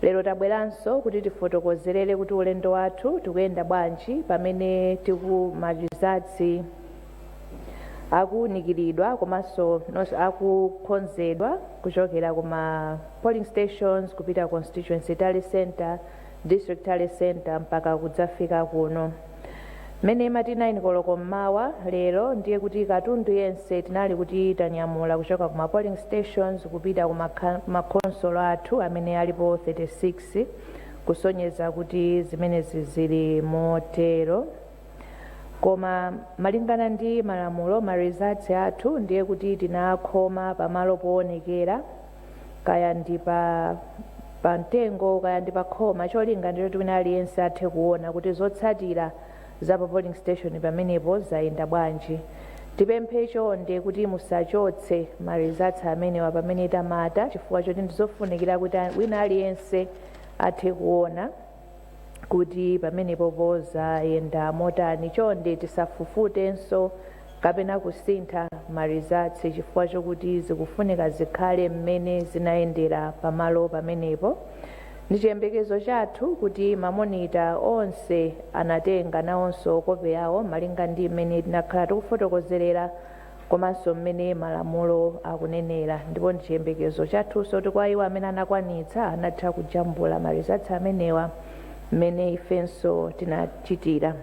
Lero tabweranso kuti tifotokozerere kuti ulendo wathu tikuyenda bwanji pamene ti- kuti ma results akuwunikiridwa komanso akukhonzedwa kuchokera kuma polling stations kupita constituency tally center district tally center mpaka kudzafika kuno mmene imati 9 koloko mmawa lero ndiye kuti katundu yense tinali kuti tanyamula kuchoka ku ma polling stations kupita ku makha- makhonsolo athu amene alipo 36 kusonyeza kuti zimenezi zili motero koma malingana ndi malamulo ma results athu ndiye kuti tinakhoma pamalo poonekera kaya ndi pa pa mtengo kaya ndi pa khoma cholinga ndi choti wina aliyense athe kuona kuti zotsatira za pa polling station pamenepo zayenda bwanji tipemphe chonde kuti musachotse ma results amenewa pamene tamata chifukwa choti ndizofunikira kuti wina aliyense athe kuona kuti pamenepopo zayenda motani chonde tisafufutenso kapena kusintha ma results chifukwa chokuti zikufunika zikhale mmene zinayendera pamalo pamenepo ndi chiyembekezo chathu kuti mamonita onse anatenga nawonso kope yawo malinga ndi mmene tinakhala tikufotokozerera komanso mmene malamulo akunenera ndipo ndi chiyembekezo chathunso kuti kwa iwo amene anakwanitsa anatha kujambula ma results amenewa mmene ifenso tinachitira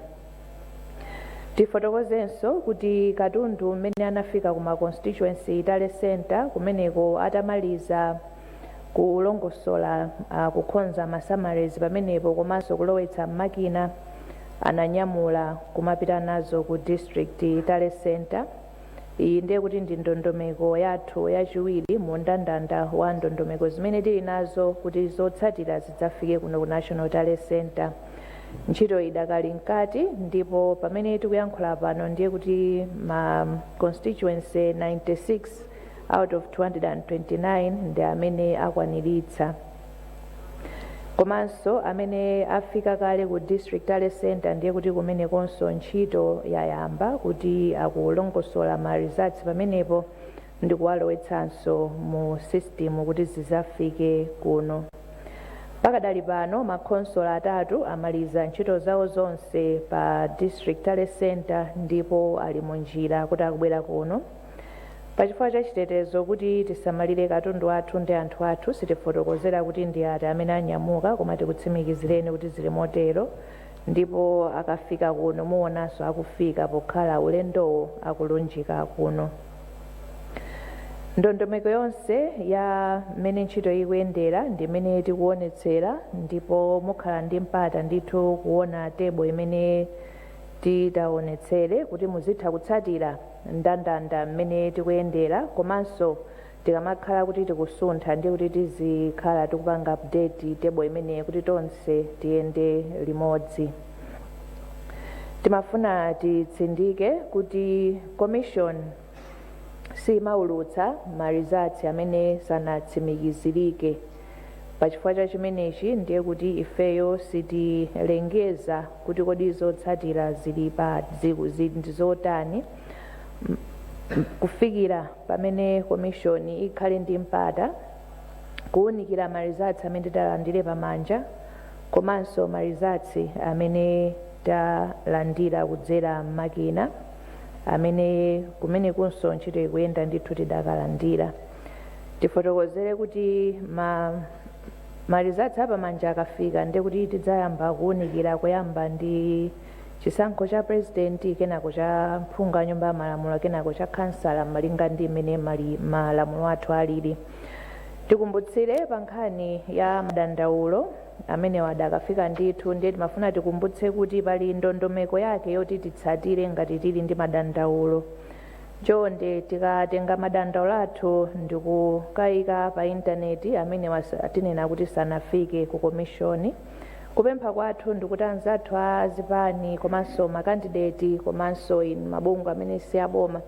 tifotokozenso kuti katundu mmene anafika ku ma constituency tally center kumeneko atamaliza kulongosola ah, kukhonza ma summaries pamenepo komanso kulowetsa m'makina ananyamula kumapita nazo ku district tally center iyi ndiye kuti ndi ndondomeko yathu yachiwiri mu ndandanda wa ndondomeko zimene tili nazo kuti zotsatira zidzafike kuno ku national tally center ntchito idakali mkati ndipo pamene tikuyankhula pano ndiye kuti ma constituency 96 out of 229 ndi amene akwaniritsa komanso amene afika kale ku district tally center ndiye kuti kumenekonso ntchito yayamba kuti akulongosola ma results pamenepo ndi kuwalowetsanso mu system kuti zizafike kuno pakadali pano makhonsolo atatu amaliza ntchito zawo zonse pa district tally center ndipo ali mu njira kuti akubwera kuno Pa chifukwa cha chitetezo kuti tisamalire katundu wathu ndi anthu athu, sitifotokozera kuti ndi ati amene anyamuka koma tikutsimikizireni kuti zili motero ndipo akafika kuno muwonanso akufika pokhala ulendowo akulunjika kuno. Ndondomeko yonse ya mmene ntchito ikuyendera ndi imene tikuwonetsera ndipo mukhala ndi mpata ndithu kuwona table imene titawonetsere kuti muzitha kutsatira. ndandanda mmene tikuyendera komanso tikamakhala kuti tikusuntha ndiye kuti tizikhala tikupanga update table imeneyi kuti tonse tiyende limodzi timafuna titsindike kuti commission simaulutsa ma results amene sanatsimikizirike Pachifukwa cha chimenechi ndiye kuti ifeyo sitilengeza kuti kodi zotsatira zili pa zi- zi- ndi zotani m- m- kufikira pamene komishoni ikhale ndi mpata kuwunikira marizatsi amene titalandire pamanja komanso marizatsi amene talandira kudzera m'makina amene kumenekunso ntchito ikuyenda ndithu tidakalandira tifotokozere kuti ma marizatsi apamanja akafika nde kuti tidzayamba kuwunikira kuyamba ndi chisankho cha purezidenti kenako cha mphungu wa nyumba ya malamulo kenako cha khansala malinga ndi mmene mali- malamulo athu alili tikumbutsire pa nkhani ya madandaulo amene adakafika ndithu ndiye timafuna tikumbutse kuti pali ndondomeko yake yoti titsatire ngati tili ndi madandaulo Chonde tikatenga madandaulo athu ndikukaika pa intaneti amenewa tinena kuti sanafike ku komishoni. Kupempha kwathu ndikuti anzathu a zipani komanso makandideti komanso inu mabungwe amene si aboma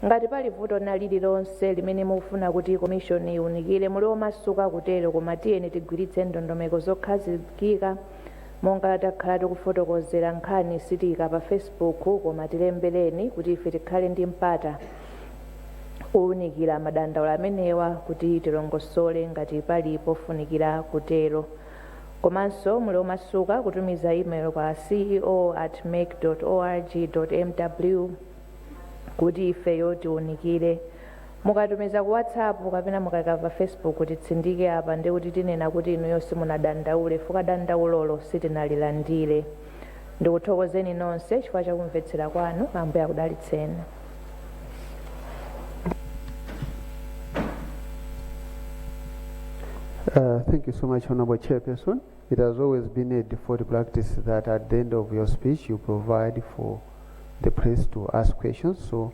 ngati pali vuto lina lililonse limene mukufuna kuti komishoni iwunikire muli omasuka kutero koma tiyeni tigwiritse ndondomeko zokhazikika Monga takhala tikufotokozera nkhani sitiika pa Facebook koma tilembereni kuti ife tikhale ndi mpata owunikira madandaulo amenewa kuti tilongosole ngati pali pofunikira kutero. Komanso muli omasuka kutumiza email kwa ceo at mec org mw kuti ifeyo tiwunikire. Mukatumiza ku whatsapp kapena mukaika pa facebook titsindike apa ndiye kuti tinena kuti inuyo simunadandaule chifukwa dandaulolo sitinalilandire. Ndikuthokozeni nonse chifukwa cha kumvetsera kwanu. Ambuye akudalitseni. Uh, thank you so much, Honorable Chairperson. It has always been a default practice that at the end of your speech you provide for the press to ask questions. So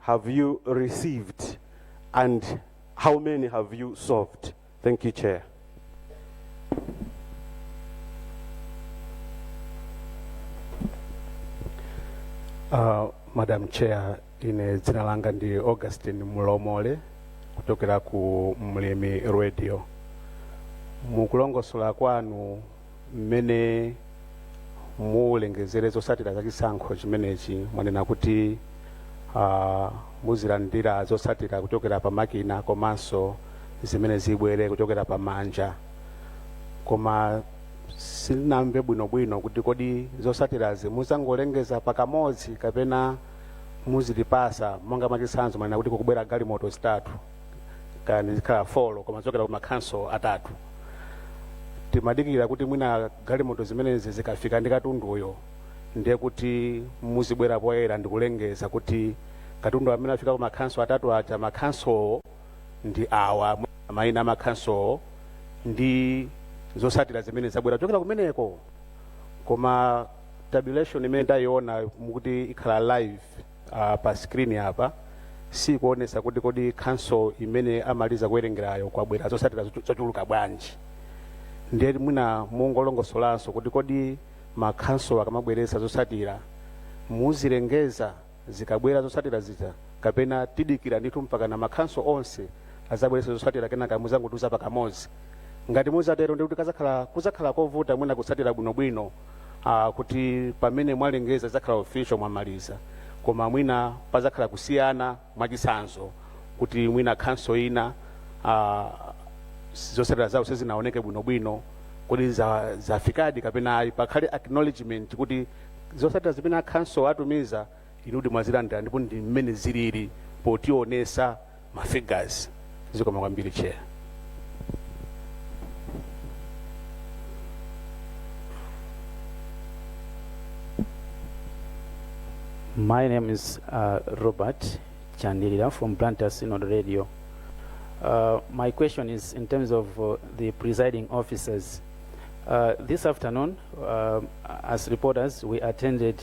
have you received and how many have you solved? Thank you, Chair. Uh, Madam Chair, ine dzina langa ndi Augustine Mulomole kuchokera ku Mlimi Radio. Mukulongosola kwanu mmene mulengezere zotsatira za chisankho chimenechi mwanena kuti ah, muzilandira zotsatira kuchokera pa makina komanso zimene zibwere kuchokera pa manja koma sinamve bwinobwino kuti kodi zotsatirazi muzangolengeza pakamodzi kapena muzitipasa monga mwachitsanzo mwanena kuti kukubwera galimoto zitatu kaya zikhala folo koma zochokera ku makhanso atatu timadikira kuti mwina galimoto zimenezi zikafika ndi katunduyo ndiye kuti muzibwera poyera ndikulengeza kuti katundu amene afika ku makhanso atatu aja makhansowo ndi awa mayina a makhansowo ndi zosatira zimene zabwera kuchokera kumeneko koma tabulation imene ndayiona mukuti ikhala live uh, pa screen apa sikuonesa kuti kodi khanso imene amaliza kuwerengerayo kwabwera zotsatira zochu- zochuluka bwanji ndiye mwina mungolongosolanso kuti kodi makhanso akamabweretsa zotsatira muzilengeza zikabwera zotsatira zija kapena tidikira ndithu mpakana makhanso onse azabweretsa zotsatira kenaka muzangotiuza pakamodzi ngati muzatero ndikuti kazakhala kuzakhala kovuta mwina kutsatira bwinobwino uh, kuti pamene mwalengeza zakhala official mwamaliza koma mwina pazakhala kusiyana mwachitsanzo kuti mwina khanso ina uh, zotsatira zawo sizinaoneke bwinobwino kuti za- zafikadi kapena ayi pakhale acknowledgement kuti zotsatira zimene akhanso atumiza inudi mwazilandira ndipo ndi mmene zilili potionesa ma figures zikoma kwambiri chair My name is uh, Robert Chandilila from Blantyre Synod Radio. Uh, my question is in terms of uh, the presiding officers. Uh, this afternoon, uh, as reporters, we attended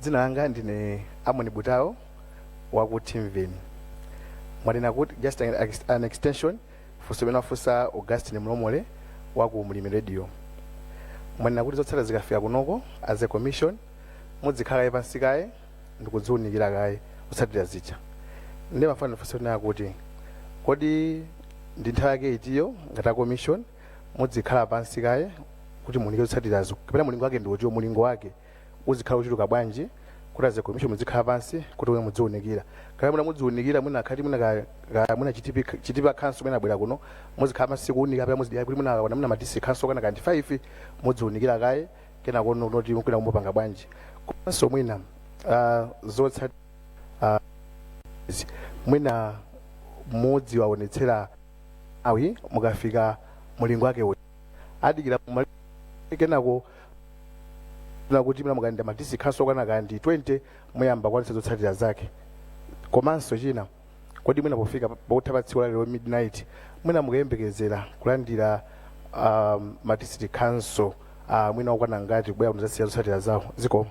Dzina langa ndine Amon Butao wa ku Timveni. Mwanena kuti just an, ex- an extension funso limene wafunsa Augustine Mlomole wa ku Mlimi Radio. Mwanena kuti zotsatira zikafika kunoko as a commission mudzikhala kaye pansi kaye ndikudziunikira kaye zotsatira zija. Ndiye ndimafuna ndifunse kunena kuti kodi ndi nthawi yake itiyo ngati a commission mudzikhala pansi kaye kuti muunike zotsatirazo kapena mulingo wake ndi utiwo mulingo wake uzikhala ochuluka bwanji kuti as a commission mudzikhala pansi kuti omwe mudziunikira kaya mwina mudziunikira mwina akhati mwina ka- ka- mwina Chitipa Chitipa khanso mwina abwera kuno muzikhala pansi kuunika kapena muzidikira kuti mwina akakwana mwina ma district khanso akakwana 5 mudziunikira kaye kenakono kuti kwina kumupanga bwanji komanso mwina ah, zotsatira ah, izi. mwina mudzi waonetsera awi mukafika mulingo wake uti adikira mali- kenako tina kuti mwina mukalandira ma district council okwana kaya ndi 20 muyamba kwanisa zotsatira zake komanso china kodi mwina pofika pakutha pa tsiku la lero midnight mwina mukayembekezera kulandira um, ma district council uh, mwina okwana ngati kubwera kudzasiya zotsatira zawo zikomo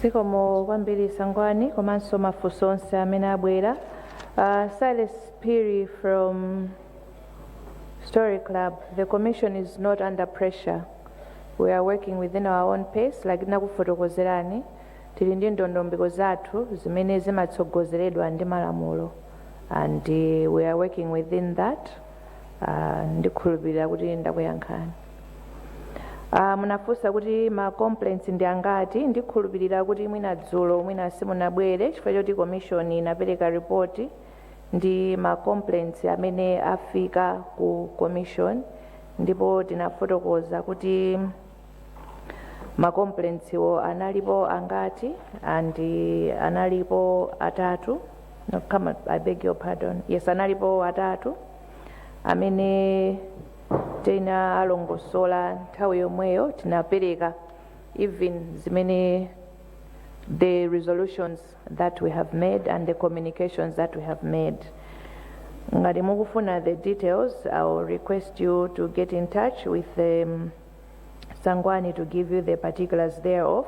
zikomo kwambiri sangwani komanso mafunso onse amene abwera uh, silas piri from story club the commission is not under pressure we are working within our own pace like ndakufotokozerani Tili ndi ndondomeko zathu zimene zimatsogozeredwa ndi malamulo and we are working within that, ndikhulupilira kuti ndakuyankhani. Ah, munafunsa kuti ma complaints ndi angati, ndikhulupilira kuti mwina dzulo mwina simunabwere chifukwa choti commission inapereka report ndi ma complaints amene afika ku commission ndipo tinafotokoza kuti ma complaints wo analipo angati and analipo atatu no, come on, i beg your pardon yes analipo atatu amene tinawalongosola nthawi yomweyo tinapereka even zimene the resolutions that we have made and the communications that we have made ngati mukufuna the details i will request you to get in touch with um, Sangwani to give you the particulars thereof.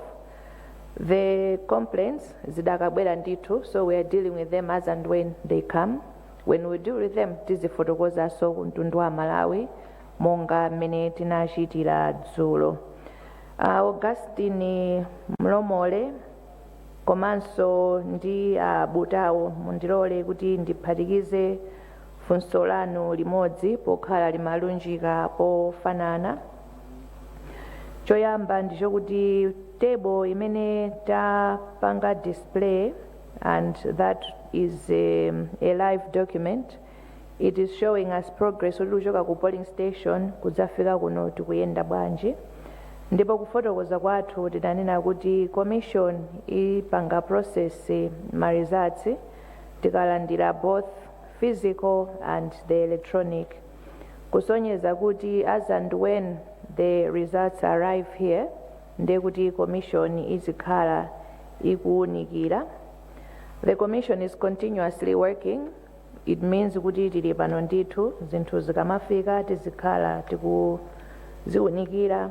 The complaints zidakabwera ndithu so we are dealing with them as and when they come. When we deal with them tizifotokozanso kumtundu wa aMalawi monga mmene tinachitira dzulo. Uh, Augustine Mlomole komanso ndi abutawo mundilole kuti ndiphatikize funso lanu limodzi pokhala limalunjika pofanana choyamba ndi chokuti table imene tapanga display and that is a, a live document it is showing us progress kuti kuchoka ku polling station kudzafika kuno tikuyenda bwanji ndipo kufotokoza kwathu tidanena kuti commission ipanga process ma results tikalandira both physical and the electronic kusonyeza kuti as and when the results arrive here ndiye kuti commission izikhala ikuwunikira the commission is continuously working it means kuti tili pano ndithu zinthu zikamafika tizikhala tikuziwunikira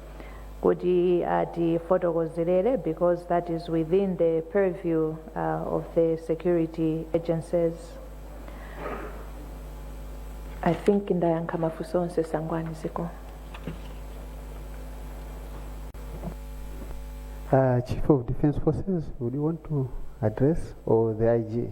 kuti atifotokozerere because that is within the purview uh, of the security agencies i think ndayankha mafunso onse sangwani ziko Uh, Chief of Defense Forces, would you want to address or the IG?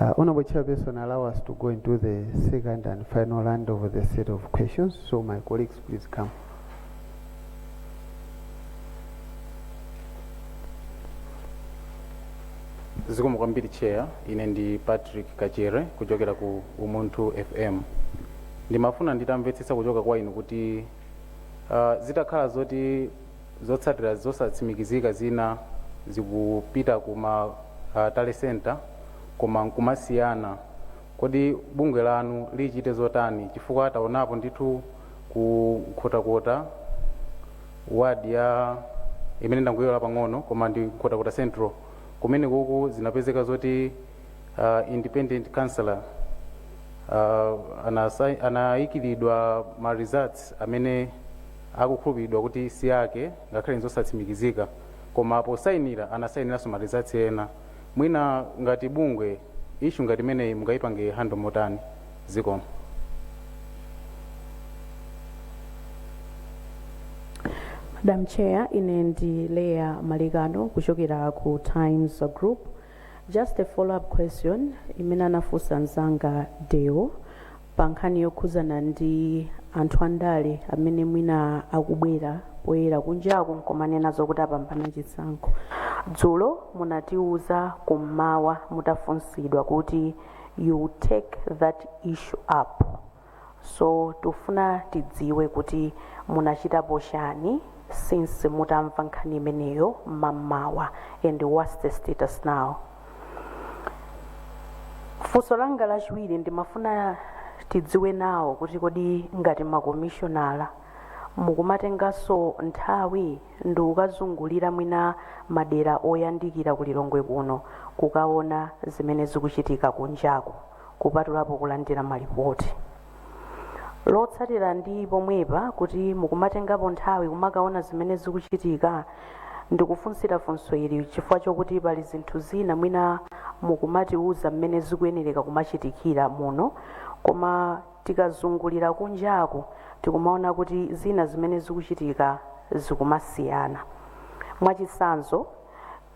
Uh, Honorable Chairperson, allow us to go into the second and final round of the set of questions. So my colleagues, please come. zikomo kwambiri chair ine ndi patrick kachere kuchokera ku umunthu fm Ndimafuna nditamvetsetsa kuchoka kwa inu kuti uh, zitakhala zoti zotsatira zosatsimikizika zina zikupita ku ma uh, tally center koma nkumasiyana, kodi bungwe lanu lichite zotani? Chifukwa taonapo ndithu ku Nkhotakota ward ya imene ndangoiwala pang'ono koma ndi Nkhotakota Central kumenekuku zinapezeka zoti uh, independent councillor uh, anasai- anayikilidwa ma results amene akukhulupiridwa kuti si ake ngakhale nzosatsimikizika koma posayinira anasayiniranso ma results ena mwina ngati bungwe issue ngati imeneyi mungayipange handle motani zikomo madam chair ine ndi Leah Malekano kuchokera ku times group Just a follow up question imene anafunsa mzanga Deo pa nkhani yokhuzana ndi anthu andale amene mwina akubwera poyera kunjaku nkumanena zokuti apambana chisankho. Dzulo munatiuza kummawa mutafunsidwa kuti you will take that issue up. So tufuna tidziwe kuti munachitapo chani since mutamva nkhani imeneyo mammawa and what's the status now? Funso langa lachiwiri ndimafuna tidziwe nawo kuti kodi ngati makomishonala mukumatenganso nthawi ndi kukazungulira mwina madera oyandikira ku Lilongwe kuno kukaona zimene zikuchitika kunjaku. kupatulapo kulandira malipoti. Lotsatira ndi pomwepa kuti mukumatengapo nthawi kumakaona zimene zikuchitika ndikufunsira funso ili chifukwa chokuti pali zinthu zina mwina mukumatiuza mmene zikuyenereka kumachitikira muno koma tikazungulira kunjaku tikumaona kuti zina zimene zikuchitika zikumasiyana. Mwachitsanzo,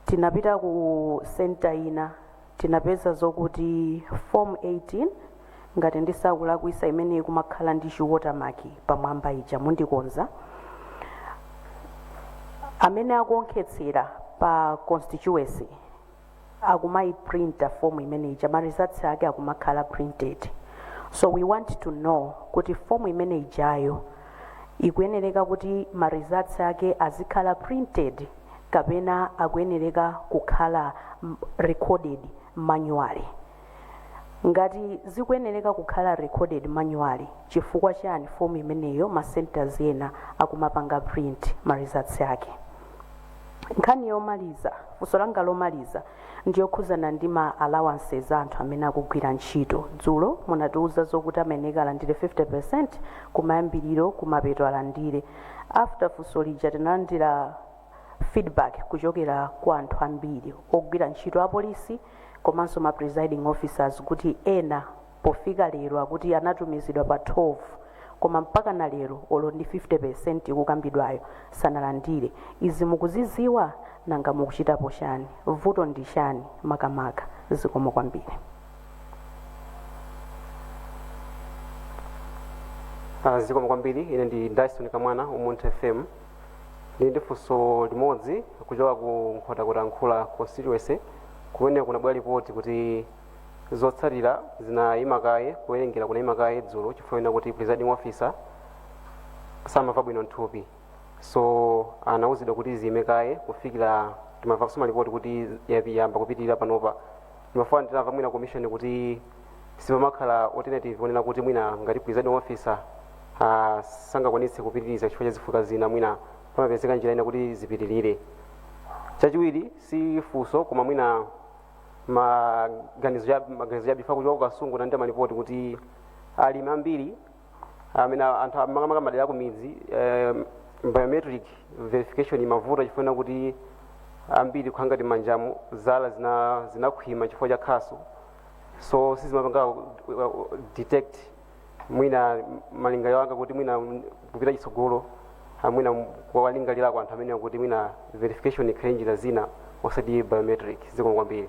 tinapita ku senta ina tinapeza zokuti form 18 ngati ndisakulakwisa imene ikumakhala ndi chi watermark pamwamba ija mundikonza amene akuonkhetsera pa constituency akumayiprinta form imene ija ma results ake akumakhala printed so we want to know kuti form imene ijayo ikuyenereka kuti ma results ake azikhala printed kapena akuyenereka kukhala m- recorded manually ngati zikuyenereka kukhala recorded manually chifukwa chani fomu imeneyo ma centers ena akumapanga print ma results ake nkhani yomaliza funso langa lomaliza ndiyokhuzana ndi ma allowances a anthu amene akugwira ntchito dzulo munatiuza zokuti amayenera alandire 50% kumayambiriro kumapeto alandire After funso lija tinalandira feedback kuchokera kwa anthu ambiri ogwira ntchito apolisi komanso ma presiding officers kuti ena pofika lero akuti anatumizidwa pa 12 koma mpaka na lero olo ndi 50% ikukambidwayo sanalandire. Izi mukuziziwa? Nanga mukuchitapo chani? Vuto ndi chani makamaka? Zikomo kwambiri. Ah, zikomo kwambiri ine ndi dyson kamwana umunthu fm ndili ndi funso limodzi kuchoka ku nkhotakota mkhula constituency kumene kunabwera lipoti kuti zotsatira zinayima kaye kuwerengera kunayima kaye dzulo chifukwa chonena kuti presiding officer samamva bwino nthupi so anawuzidwa kuti ziyime kaye kufikira timamva kusoma lipoti kuti yapi- yamba kupitirira panopa ndimafuna ndimve mwina commission kuti sipamakhala alternative onena kuti mwina ngati presiding officer ah, sangakwanitse kupitiriza chifukwa cha zifukwa zina mwina pamapezeka njira ina kuti zipitirire chachiwiri si funso koma mwina maganizo chabe kuchoka ku kasungu tinalandira malipoti kuti alimi ambiri amene anthu amakamaka madera akumidzi eh, biometric verification imavuta chifukwa chonena kuti ambiri kukhala ngati manjamu zala zina zinakhwima chifukwa cha khasu so sizimapanga uh, detect mwina malingaliro anga kuti mwina kupita chitsogolo ah, mwina kuwalingalirako anthu amenewa kuti mwina verification ikhale njira zina osati biometric zikomo kwambiri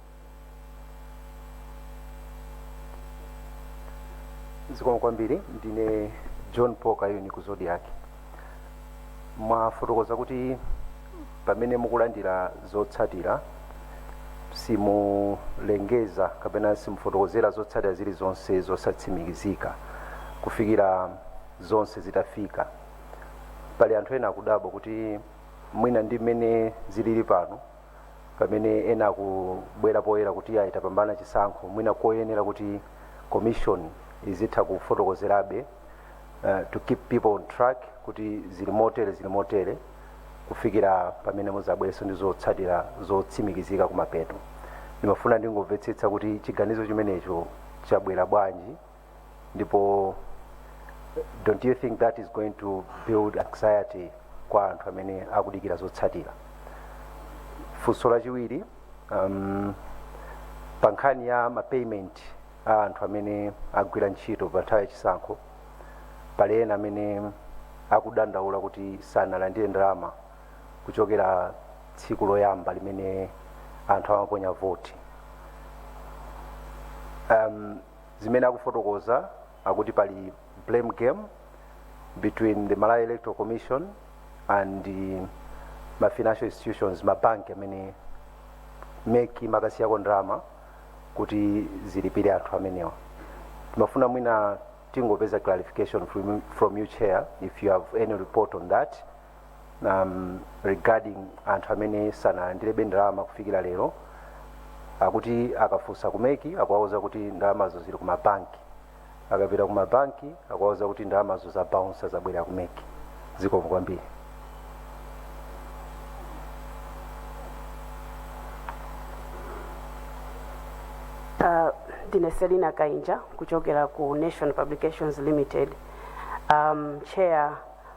zikomo kwambiri ndine john paul kayuni ku zodiak mwafotokoza kuti pamene mukulandira zotsatira simulengeza kapena simufotokozera zotsatira zilizonse zosatsimikizika kufikira zonse zitafika pali anthu ena akudabwa kuti mwina ndi mmene zilili pano pamene ena akubwera poyera kuti iyayi tapambana chisankho mwina nkoyenera kuti commission izitha kufotokozerabe uh, to keep people on track kuti zili motere zili motere kufikira pamene muzabwerenso ndi zotsatira zotsimikizika kumapeto ndimafuna ndingomvetsetsa kuti chiganizo chimenecho chabwera bwanji ndipo don't you think that is going to build anxiety kwa anthu amene akudikira zotsatira funso lachiwiri um, pa nkhani ya mapayment a anthu amene agwira ntchito pa nthawi yachisankho pali ena amene akudandaula kuti sanalandire ndalama kuchokera tsiku loyamba limene anthu amaponya voti um, zimene akufotokoza akuti pali blame game between the malawi electoral commission and eh, ma financial institutions mabanki amene mec imakasiyako ndalama kuti zilipire anthu amenewa timafuna mwina tingopeza clarification from, from you chair if you have any report on that um, regarding anthu amene sanalandirebe ndalama kufikira lero akuti akafunsa ku mec akuwauza kuti ndalamazo zili kumabanki akapita kumabanki akuwauza kuti ndalamazo zabaunsa zabwerera ku mec zikomo kwambiri Uh, ndine selina kainja kuchokera ku nation publications limited um, chair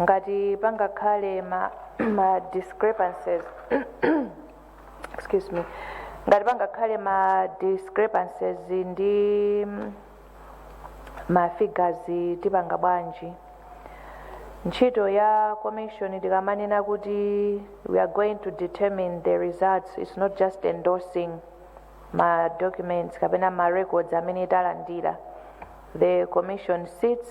ngati pangakhale ma, ma discrepancies excuse me ngati pangakhale ma discrepancies ndi mm, ma figures tipanga bwanji ntchito ya commission tikamanena kuti we are going to determine the results it's not just endorsing ma documents kapena ma records amene talandira the commission sits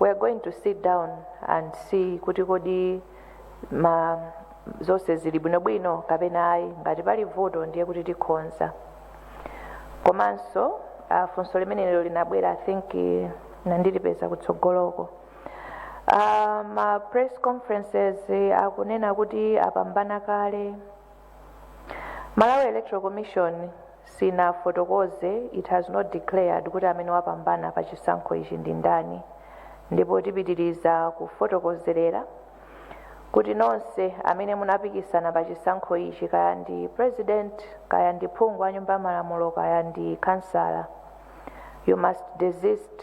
we are going to sit down and see kuti kodi ma zonse zili bwinobwino kapena ayi ngati pali vuto ndiye kuti tikhonza komanso uh, funso limenelo linabwera i think eh, nandilipeza kutsogoloko uh, ma press conferences eh, akunena kuti apambana kale Malawi Electoral Commission sinafotokoze, it has not declared, kuti amene wapambana pa chisankho ichi ndi ndani ndipo tipitiriza kufotokozerera kuti nonse amene munapikisana pa chisankho ichi kaya ndi president kaya ndi phungu wa nyumba ya malamulo kaya ndi kansala you must desist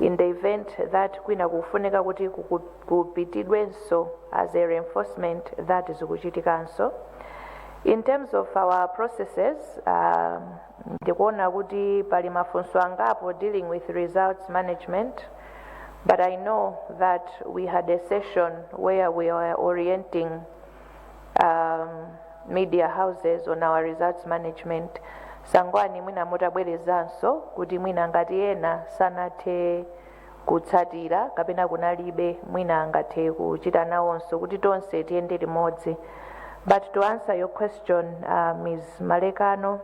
in the event that kwina kukufunika kuti kuku- kupitidwenso as a reinforcement that zikuchitikanso in terms of our processes um, ndikuona kuti pali mafunso angapo dealing with results management but i know that we had a session where we were orienting um, media houses on our results management Sangwani mwina mutabwerezanso kuti mwina ngati ena sanathe kutsatira kapena kunalibe mwina angathe kuchita nawonso kuti tonse tiyende limodzi but to answer your question uh, ms malekano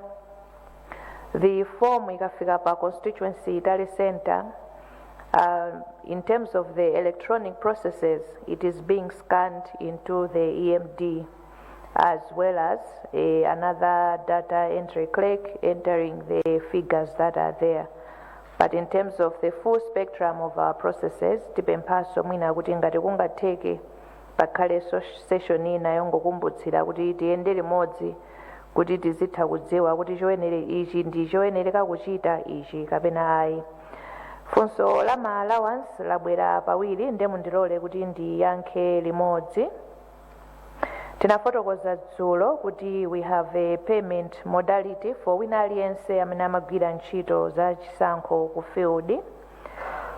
the form ikafika pa constituency tally center Uh, in terms of the electronic processes, it is being scanned into the EMD as well as a, another data entry clerk entering the figures that are there. But in terms of the full spectrum of our processes, tipemphaso mwina kuti ngati kungatheke pakhale so- session ina yongokumbutsira kuti tiyende limodzi kuti tizitha kudziwa kuti choyenere ichi ndi choyenereka kuchita ichi kapena ayi funso la ma allowance labwera pawiri nde mundilole kuti ndiyankhe limodzi tinafotokoza dzulo kuti we have a payment modality for wina aliyense amene amagwira ntchito za chisankho ku field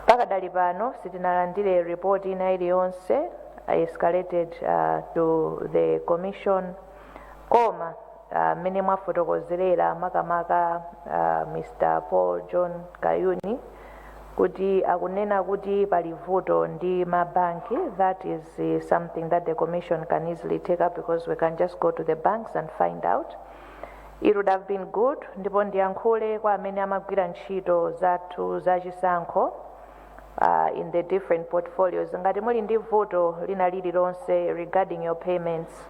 pakadali pano sitinalandire report ina iliyonse escalated uh, to the commission koma ah, mmene mwafotokozerera makamaka ah, mr paul john kayuni kuti akunena kuti pali vuto ndi mabanki that is eh, something that the commission can easily take up because we can just go to the banks and find out it would have been good ndipo ndiyankhule kwa amene amagwira ntchito zathu za chisankho uh, in the different portfolios ngati muli ndi vuto lina lililonse regarding your payments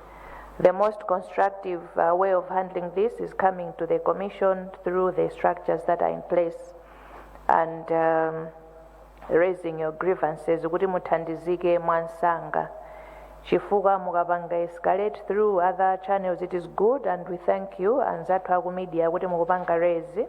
The most constructive uh, way of handling this is coming to the Commission through the structures that are in place and um, raising your grievances kuti muthandizike mwansanga chifukwa mukapanga escalate through other channels it is good and we thank you anzathu aku media kuti mukupanga raise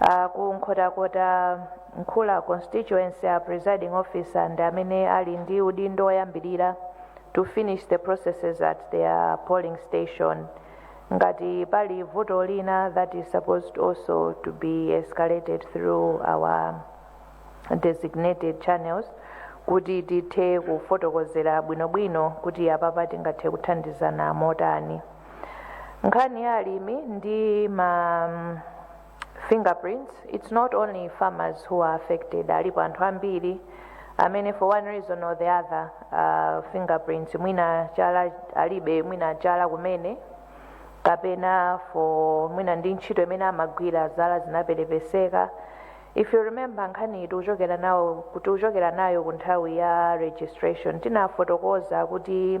Uh, ku nkhotakota Mkhula constituency a presiding officer ndi amene ali ndi udindo woyambirira to finish the processes at their polling station ngati pali vuto lina that is supposed also to be escalated through our designated channels kuti tithe kufotokozera bwinobwino kuti apapa tingathe kuthandizana motani nkhani ya alimi ndi ma mm, fingerprints it's not only farmers who are affected alipo anthu ambiri amene for one reason or the other uh, fingerprints mwina chala alibe mwina chala kumene kapena for mwina ndi ntchito imene amagwira zala zinaperepeseka if you remember nkhani tikuchokera nayo ku tikuchokera nayo ku nthawi ya registration tinafotokoza kuti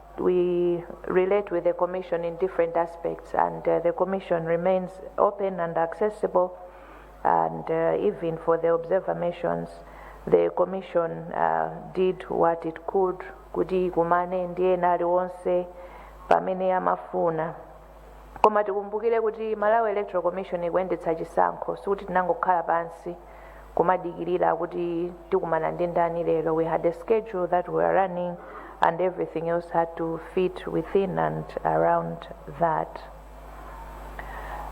we relate with the Commission in different aspects, and uh, the Commission remains open and accessible, and uh, even for the observer missions, the Commission uh, did what it could kuti ikumane ndi wina aliyense pamene amafuna koma tikumbukire kuti malawi electoral commission ikuyendetsa chisankho sikuti tinangokhala pansi kumadikirira kuti tikumana ndi ndani lero we had a schedule that we were running and everything else had to fit within and around that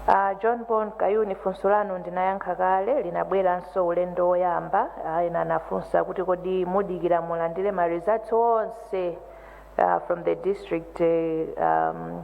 uh, john bon kayuni funso lanu ndinayankha kale linabweranso ulendo woyamba uh, ena anafunsa kuti kodi mudikira mulandire ma results onse uh, from the district uh, um,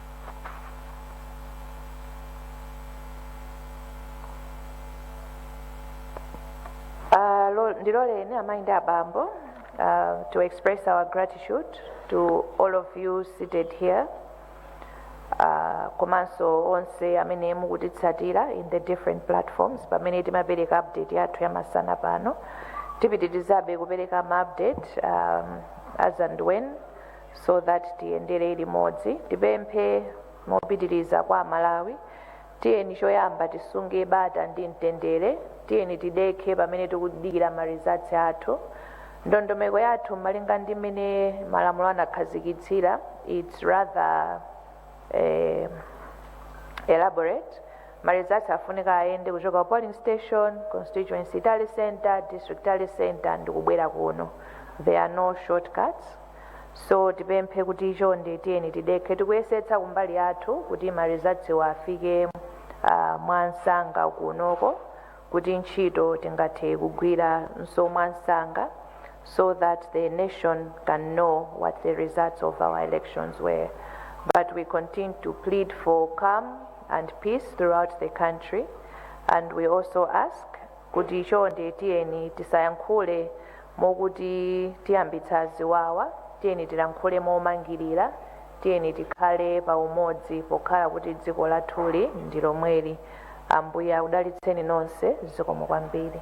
Uh, lo- ndiloleni amayi ndi abambo uh, to express our gratitude to all of you seated here uh, komanso onse amene mukutitsatira in the different platforms pamene timapereka update yathu yamasana pano tipitirizabe kupereka ma update um, as and when so that tiyendere limodzi tipemphe mopitiriza kwa amalawi tiyeni choyamba tisunge bata ndi mtendere tiyeni tidekhe pamene tikudikira ma results athu ndondomeko yathu malinga ndi mmene malamulo anakhazikitsira its rather eh, elaborate ma results afunika ayende kuchoka polling station constituency tally center district tally center ndi kubwera kuno there are no shortcuts so tipemphe kuti chonde tiyeni tidekhe tikuyesetsa kumbali yathu kuti ma results wo afike uh, mwansanga kunoko kuti ntchito tingathe kugwiranso mwansanga so that the nation can know what the results of our elections were but we continue to plead for calm and peace throughout the country and we also ask kuti chonde tiyeni tisayankhule mokuti tiyambitsa ziwawa, tiyeni tilankhule momangirira, tiyeni tikhale pa umodzi pokhala kuti dziko lathuli ndi lomweli. Ambuye akudalitseni nonse. Zikomo kwambiri.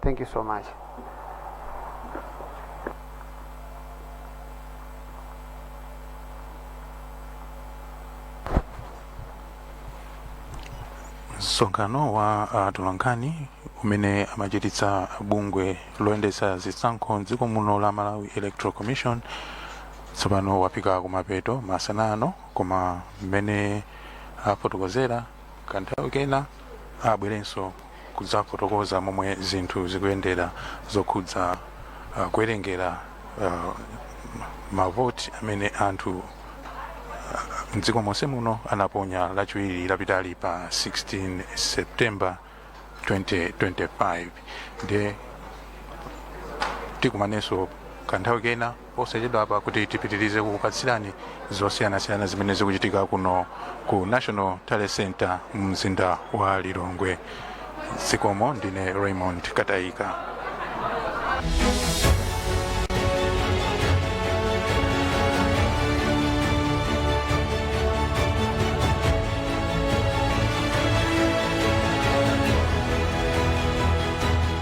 thank you so much msonkhano wa atolankhani umene amachititsa bungwe loyendetsa zisankho mdziko muno la malawi electoral commission tsopano wafika kumapeto masana ano koma mmene afotokozera kanthawi kena abwerenso kudzafotokoza momwe zinthu zikuyendera zokhudza uh, kuwerengera uh, mavoti amene anthu uh, mdziko monse muno anaponya lachiwiri lapitali pa 16 september 2025 ndiye tikumanenso kanthawi kena posachedwapa kuti tipitirize kukupatsirani zosiyanasiyana zimene zikuchitika kuno ku national tally center mumzinda wa lilongwe zikomo ndine raymond kataika